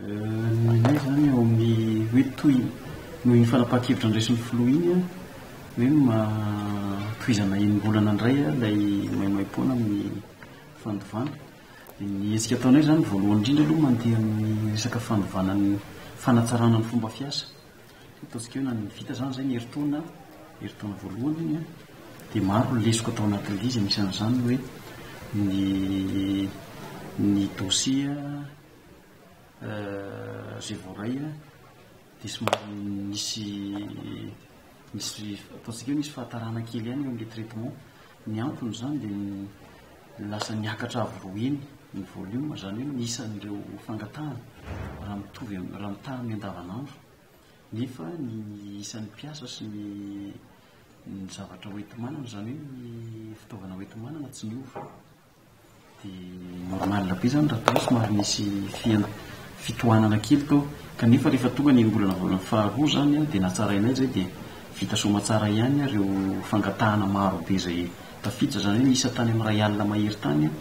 Ny ahy izany eo amin'ny hoe toy noho iny fanapahan-kevitra niraisin'ny filoha iny an, hoe tohizana enim-bolana indray ilay maimaim-poana amin'ny fandovana. Ny hetsika ataonay izany voalohany indrindra aloha mandeha amin'ny resaka fandovana ny fanatsarana ny fomba fiasa. Ataontsika hoe nanana vita izany izay ny herintaona, herintaona voalohany iny an, dia maro ny lesoka tao anatin'ilay izy, anisan'izany ny hoe ny ny dosie izay voaray an, dia somary nisy nisy ataontsika hoe nisy fahatarana kely ihany eo amin'ilay traitement. Ny anton'izany dia ny lasa niakatra avo roa heny ny volume, izany hoe ny isan'ireo fangatahana raha mitovy am, raha mitaha amin'ny andavanandro, nefa ny isan'ny mpiasa sy ny ny zavatra hoenti-manana, izany hoe ny fitaovana hoenti-manana tsy niova. Dia normal be zany raha tao somary nisy fihena fitohanana kely tao kanefa rehefa tonga ny enim-bolana volana faharoa zany an dia natsarainay izay dia vita soamatsara ihany an ireo fangatahana maro be izay tafiditra izany hoe niisa tany amin'ny iray alina mahery tany an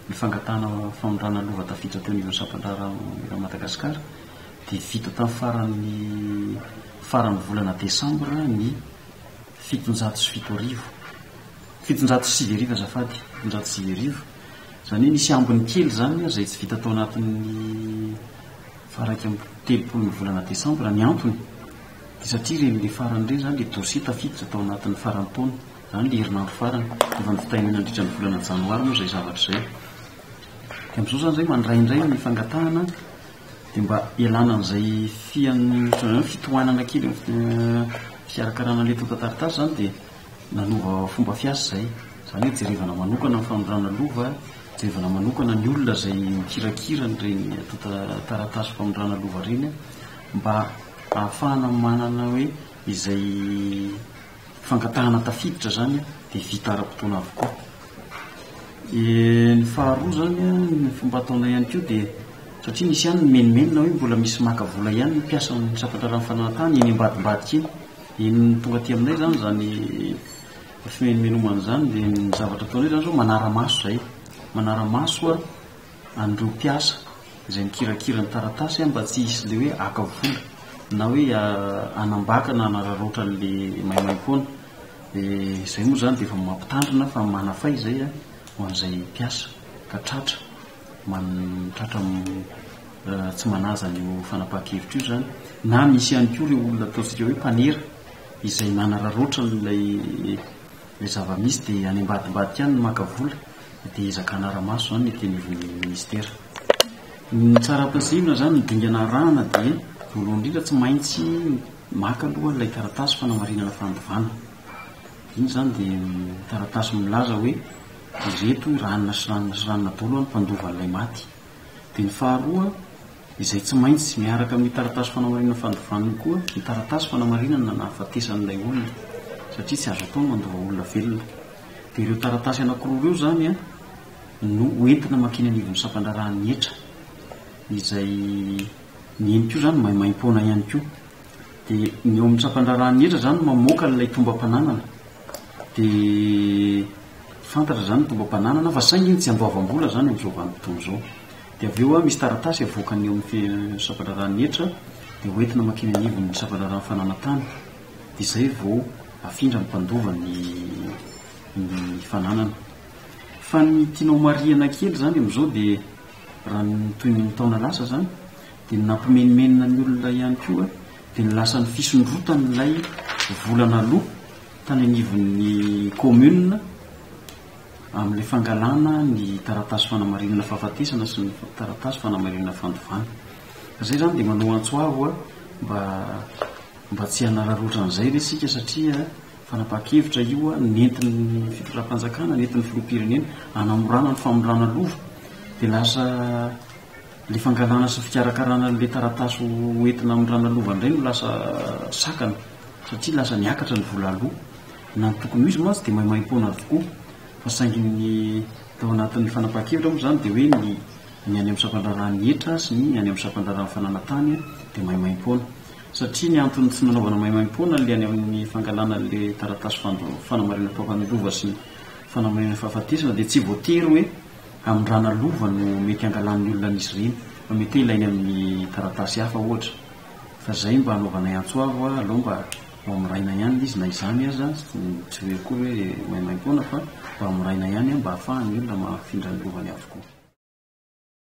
ny fangatahana fanondrana lova tafiditra teo anivon'ny sampan-draharaha eran'i Madagasikara dia vita tamin'ny faran'ny faran'ny volana desambra ny fitonjato sy fito arivo. Fitonjato sy sivy arivo azafady, fitonjato sy sivy arivo, izany hoe nisy ambiny kely izany ary izay tsy vita tao anatin'ny faha iraika amby telopolon'ny volana desambra, ny antony dia satria ireny ilay farany ireny izany ilay dossier tafiditra tao anatin'ny faran'ny taona, izany ilay herinandro farany, efa novitaina nandritra ny volana janoary moa izay zavatra izay, dia amin'izao izany izay mandray indray ny fangatahana dia mba ialana amin'izay fian, ohatran'ny hoe fitohanana kely amin'ny fikarakarana ilay tontan-taritasy izany dia Nanova fomba fiasa izay. Izany hoe jerevana manokana ny fanondrana lova, jerevana manokana ny olona izay mikirakira an'ireny tonta taratasy fanondrana lova ireny mba ahafahana manana hoe izay fangatahana tafiditra izany dia vita ara-potoana avokoa. Ny faharoa izany an, ny fomba ataonay ihany koa dia satria misy ihany ny menomenona hoe mbola misy maka vola ihany ny mpiasan'ny sampandraharahan'ny fananantany eny ambadimbadika eny. Iny tonga aty aminay izany izany finoan'i Menomana izany dia ny zavatra ataonay izany izao manara-maso izahay, manara-maso an'ireo mpiasa izay mikirakira ny taratasy mba tsy hisy ilay hoe haka vola na hoe hanambaka na hanararaotra an'ilay maimaim-poana. Dia izay moa izany dia efa mampitandrina fa manafay izay ho an'izay mpiasa ka tratra. mantratra tsy manaja an'io fanapahan-kevitra io izany na misy ihany koa ireo olona ataontsika hoe mpanera izay manararaotra an'ilay ilay zava-misy dia any ambadimbadika any no maka vola dia ezaka hanara-maso izany ny ety anivon'ny minisitera. Ny tsara ampiasaina izany ny dingana arahana dia voalohany indrindra tsy maintsy maka aloha ilay taratasy fanamarinana fandovana. Iny izany dia taratasy milaza hoe. Ireto hoy ranona sy ranona sy ranona dolo ny mpandova an'ilay maty. Dia ny faharoa, izay tsy maintsy miaraka amin'ny taratasy fanamarinana fandovana koa ny taratasy fanamarinana ny nahafatesan'ilay olona, satria tsy azo atao ny mandova olona velona. Dia ireo taratasy anankiroa ireo izany no hoentina mankeny anivon'ny sampandraharahan'ny hetra, izay ny eny koa izany maimaim-poana ihany koa. Dia ny eo amin'ny sampandraharahan'ny hetra izany no mamoaka ilay tombam-pananana. Dia. Fantatra izany ny mpomba mpananana fa saingy tsy andoavam-bola izany amin'izao vanim-potoana izao. Dia avy eo misy taratasy avoakany eo amin'ny sampan-draharahan'ny hetra dia hoentina mankeny anivon'ny sampan-draharahan'ny fananantany. Dia izay vao afindra ny mpandova ny ny fananana. Fa ny tianao marihana kely izany amin'izao dia raha ny toy ny taona lasa izany dia ny nampimenomenona ny olona ihany koa dia ny lasan'ny fisondrotan'ilay vola naloa tany anivon'ny commune amin'ilay fangalana ny taratasy fanamarinana fahafatesana sy ny taratasy fanamarinana fandovana. Fa izay izany dia manao antso avo a, mba mba tsy hanararaotra an'izay ve isika satria fanapahan-kevitra io a, nentin'ny fitondram-panjakana, nentin'ny filoham-pirenena hanamorana ny famindràna lova dia lasa Ilay fangalana sy fikarakarana an'ilay taratasy ho entina amin'ny ranalovana indray no lasa sakana satria lasa niakatra ny vola aloa. Na ny tokony ho izy mantsy dia maimaimpoana avokoa fa saingy ny tao anatin'ny fanapahan-kevitra moa izany dia hoe ny any amin'ny sampandraharahan'ny hetra sy ny any amin'ny sampandraharahan'ny fananantany dia maimaimpoana. Satria ny antony tsy nanaovana maimaimpoana ilay any amin'ny fangalana ilay taratasy fanamarihana mpampanohy lova sy ny fanamarihana fahafatesana dia tsy voatery hoe amin'ny raha nalova no mety hangalan'ny olona an'izy ireny, fa mety hoe ilainy amin'ny taratasy hafa ohatra, fa izay mba anaovanay antso avo a, alao mba ho amorayna ihany ilay izy na izany aza, tsy hoe akory hoe maimaim-poana fa mba amorayna ihany a, mba hahafahan'ny olona mahafindra ny lovany avokoa.